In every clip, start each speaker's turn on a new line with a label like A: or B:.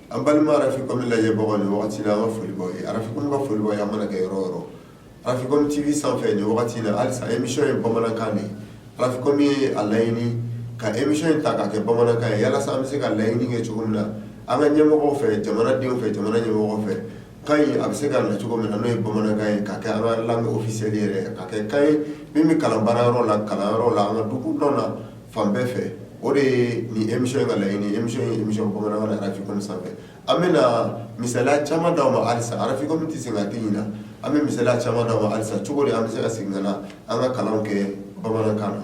A: An balima Africom lajɛbagaw ni wagati la an ka foli b'aw ye Africom ka foli b'aw ye aw mana kɛ yɔrɔ yɔrɔ Africom TV sanfɛ ni wagati la halisa émission ye bamanankan de Africom ye a laɲini ka émission in ta k'a kɛ bamanankan ye yalasa an bɛ se ka laɲini kɛ cogo min na an ka ɲɛmɔgɔ fɛ jamanadenw fɛ jamana ɲɛmɔgɔ fɛ kan in a bɛ se ka na cogo min na n'o ye bamanankan ye ka kɛ langue officielle yɛrɛ ka kɛ kan ye min bɛ kalan baara yɔrɔ la kalanyɔrɔ la an ka dugu kɔnɔna fan bɛɛ fɛ o de ye nin émission in ka laɲini émission bamanankan Africom sanfɛ an bɛ na misala caman d'aw ma alisa Africom tɛ se ka den ɲin an bɛ misala caman d'aw ma alisa cogo de an bɛ se ka segin ka na an ka kalan kɛ bamanankan na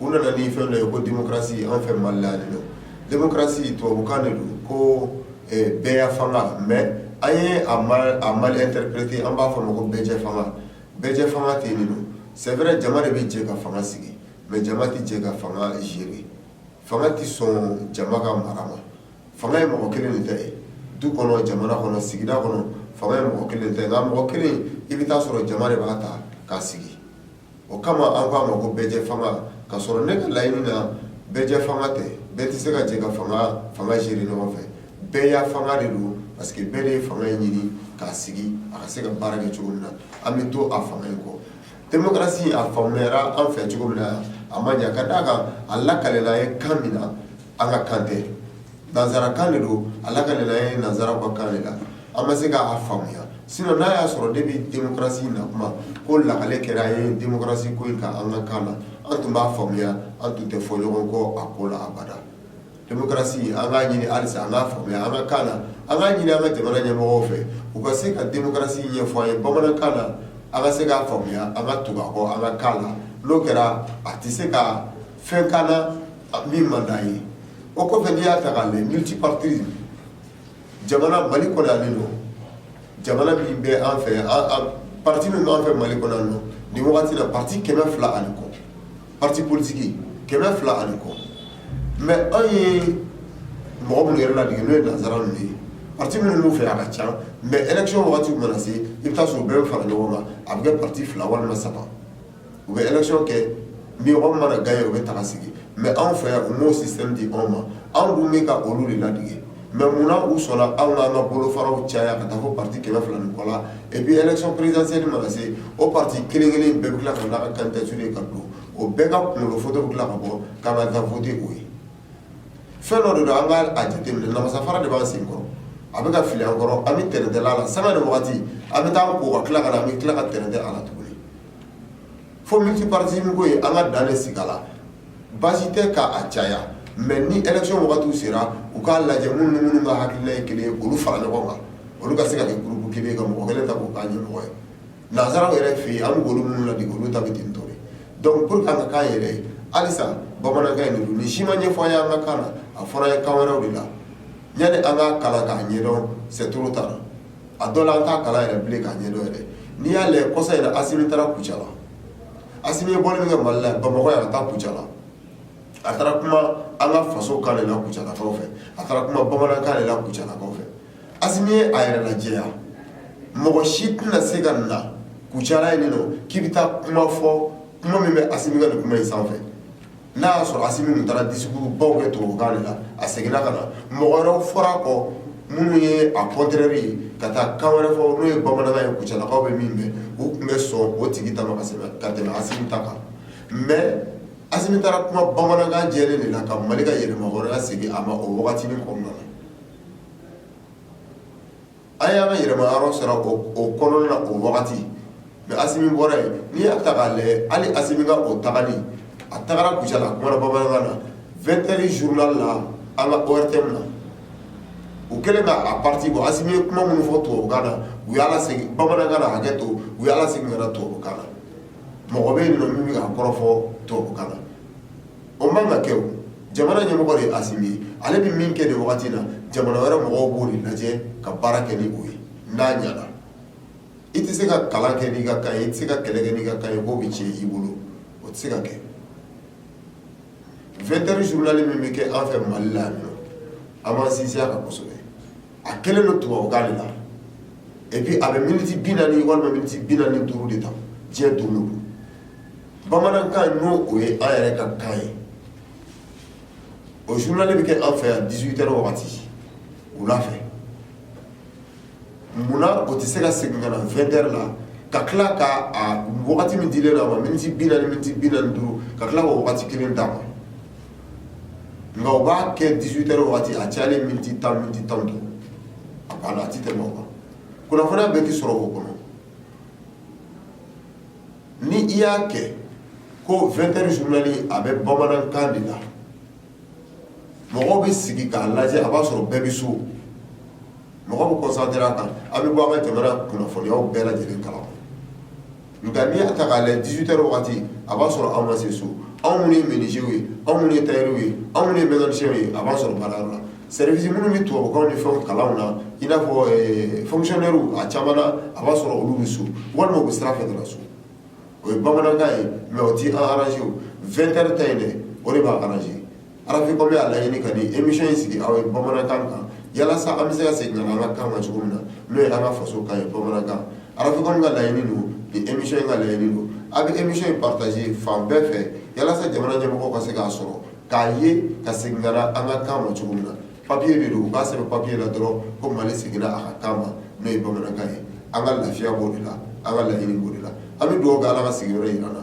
A: u nana ni fɛn dɔ ye ko démocratie anw fɛ Mali la yan nɔ démocratie tubabukan de don ko bɛɛya fanga mais an ye a mal interpréter an b'a fɔ a ma ko bɛɛjɛ fanga, bɛɛjɛ fanga tɛ yen de don c'est vrai jama de bɛ jɛ ka fanga sigi mais jama tɛ jɛ ka fanga gérer fanga tɛ sɔn jama ka mara ma, fanga ye mɔgɔ kelen de ta ye du kɔnɔ, jamana kɔnɔ, sigida kɔnɔ fanga ye mɔgɔ kelen de ta ye nka mɔgɔ kelen i bɛ ta'a sɔrɔ jama de b'a ta k'a sigi o kama an ko a ma ko bɛɛjɛ fanga k'a sɔrɔ ne ka laɲini na bɛɛjɛ fanga tɛ bɛɛ tɛ se ka jɛ ka fanga gérer ɲɔgɔn fɛ bɛɛya fanga de don parce que bɛɛ de ye fanga in ɲini k'a sigi a ka se ka baara kɛ cogo min na an bɛ to a fanga in kɔ demokarasi a faamuyara an fɛ cogo min na a ma ɲa ka d'a kan a lakalela an ye kan min na an ka kan tɛ Nansarakan de don a lakalela an ye nansara ka kan de la an ma se k'a faamuya sinon n'a y'a sɔrɔ depuis démocratie na kuma ko lakale kɛra an ye démocratie ko ka an ka kan na an tun b'a faamuya an tun tɛ fɔ ɲɔgɔn kɔ a ko la abada démocratie an k'a ɲini alisa an k'a faamuya an ka kan na an k'a ɲini an ka jamana ɲɛmɔgɔ fɛ u ka se ka démocratie ɲɛfɔ an ye bamanankan na an ka se k'a faamuya an ka tugu a kɔ an ka kan na n'o kɛra a tɛ se ka fɛn k'an na min man d'an ye, o kɔfɛ n'i y'a ta k'a lajɛ multipartisme jamana Mali kɔnɔ yan ninɔ, jamana min bɛ an fɛ yan, an parti min b'an fɛ Mali kɔnɔ yan ninɔ, nin wagati in na parti 200 ani kɔ, parti politique 200 ani kɔ mais anw ye mɔgɔ minnu yɛrɛ ladege n'o ye nansara ninnu ye, parti minnu b'u fɛ yan a ka ca mais élection wagati mana se, i bɛ ta'a sɔrɔ u bɛɛ bɛ fara ɲɔgɔn kan a bɛ kɛ parti 2 walima 3 u bɛ élection kɛ ni min mana gagner o bɛ taa sigi mais anw fɛ yan u m'o système di anw ma anw dun min ka olu de ladege mais munna u sɔnna anw ka an ka bolo faraw caya ka taa fɔ parti kɛmɛ fila ni kɔ la et puis élection présidentielle mana se o parti kelen kelen bɛɛ bɛ tila k'a ka candidature ka don o bɛɛ ka kunkolo photo bɛ tila ka bɔ k'an bɛ taa voter o ye fɛn dɔ de don an k'a jate minɛ namasa fara de b'an sen kɔrɔ a bɛ ka fili an kɔrɔ an bɛ tɛrɛndɛ a la sanga ni waati an bɛ taa ko ka tila ka na an bɛ tila ka tɛrɛndɛ a la tuguni fo multipartisme ko in an ka dan de sigi a la baasi tɛ k'a caya mais ni élection wagatiw sera u k'a lajɛ minnu ni minnu ka hakilina ye kelen ye k'olu fara ɲɔgɔn kan olu ka se ka kɛ groupe kelen ye ka mɔgɔ kelen ta k'o k'a ɲɛmɔgɔ ye Nansaraw yɛrɛ fɛ yen an b'olu minnu ladege olu ta bɛ ten to donc pour ka k'a yɛrɛ ye halisa bamanankan nin si ma ɲɛfɔ i ye an ka kan na a fɔra i ye kan wɛrɛw de la yanni an ka kalan k'a ɲɛdɔn c'est trop tard a dɔ la an t'a kalan yɛrɛ bilen k'a ɲɛdɔn yɛrɛ n'i y'a lajɛ kɔsa yɛrɛ Assimi taara Kucala Assimi ye bɔ min kɛ Mali la Bamakɔ ka taa Kucala a taara kuma an ka faso kan de la Kucalakaw fɛ a taara kuma bamanankan de la Kucalakaw fɛ a yɛrɛ lajɛya mɔgɔ si tɛna se ka na Kucala nin kɔ k'i bɛ taa kuma fɔ kuma min bɛ Assimi ka kuma in sanfɛ n'i y'a sɔrɔ Assimi tun taara discours ba kɛ tubabukan na a seginna ka na mɔgɔ wɛrɛ fɔra kɔ minnu ye a contraire ye ka taa kan wɛrɛ fɔ n'o ye bamanankan ye Kucalakaw bɛ min mɛn u tun bɛ sɔn o tigi ta ma ka tɛmɛ Assimi ta kan mais Assimi taara kuma bamanankan jɛlen de la ka Mali ka yɛlɛma wɛrɛ segin a ma o waati wagati kɔnɔna na A y'a ka yɛlɛma yɔrɔ sɔrɔ o kɔnɔna na o wagati mais Assimi bɔra yen n'i y'a ta k'a lajɛ hali Assimi ka o tagali a taara Kucala ka kuma bamanankan na 20 heures journal la an ka ORTM na u kɛlen k'a partie bɔ Assimi ye kuma minnu fɔ tubabukan na u y'a lasegin bamanankan na hakɛ to u y'a lasegin ka na tubabukan na mɔgɔ bɛ yen nɔ min bɛ ka kɔrɔfɔ tubabukan na o man ka kɛ o jamana ɲɛmɔgɔ de ye Assimi ye ale bɛ min kɛ nin wagati in na jamana wɛrɛ mɔgɔw b'o de lajɛ ka baara kɛ ni o ye n'a ɲɛna i tɛ se ka kalan kɛ n'i ka kan ye i tɛ se ka kɛlɛ kɛ n'i ka kan ye k'o bɛ tiɲɛ i bolo o tɛ se ka kɛ 20 heures journal min bɛ kɛ an fɛ Mali la yan nɔ an b'an sinsin a kan kosɛbɛ a kɛlen don tubabukan de la et puis a bɛ minutes 40 walima minutes 45 de ta diɲɛ don o don bamanankan n'o o ye an yɛrɛ ka kan ye o journal bɛ kɛ an fɛ yan 18 heures wagati wula fɛ munna o tɛ se ka segin ka na 20 heures la ka tila ka a wagati min dilen don a ma miniti bi naani miniti bi naani duuru ka tila k'o wagati kelen d'a ma nka o b'a kɛ 18 heures wagati a cayalen miniti tan miniti tan duuru a banna a tɛ tɛmɛ o kan kunnafoniya bɛɛ tɛ sɔrɔ o kɔnɔ ni i y'a kɛ ko vingt heures journal a bɛ bamanankan de la mɔgɔ bɛ sigi k'a lajɛ a b'a sɔrɔ bɛɛ bɛ so mɔgɔ bɛ concentré a kan an bɛ bɔ an ka jamana kunnafoniyaw bɛɛ lajɛlen kalama nka n'i y'a ta k'a la dix-huit heures waati a b'a sɔrɔ an ma se so anw minnu ye menuisiers ye anw minnu ye tailleurs ye anw minnu ye mécaniciens ye a b'a sɔrɔ baarayɔrɔ la service minnu bɛ tubabukanw ni fɛn kalan na i n'a fɔ fonctionnaires a caman a b'a sɔrɔ olu bɛ so walima u bɛ sira fɛ ka na so o ye bamanankan ye mais o tɛ an arranger vingt heures ta in dɛ o de b'an arranger Araficom b'a laɲini ka ni émission in sigi aw ye bamanankan kan yalasa an bɛ se ka segin ka na an ka kan ma cogo min na n'o ye an ka faso kan ye bamanankan Araficom ka laɲini don ni émission in ka laɲini don a bɛ émission in partager fan bɛɛ fɛ yalasa jamana ɲɛmɔgɔw ka se k'a sɔrɔ k'a ye ka segin ka na an ka kan ma cogo min na papier de don u k'a sɛbɛn papier la dɔrɔn ko Mali seginna a ka kan ma n'o ye bamanankan ye an ka lafiya b'o de la an ka laɲini b'o de la an bɛ dugawu kɛ Ala ka sigiyɔrɔ jira an na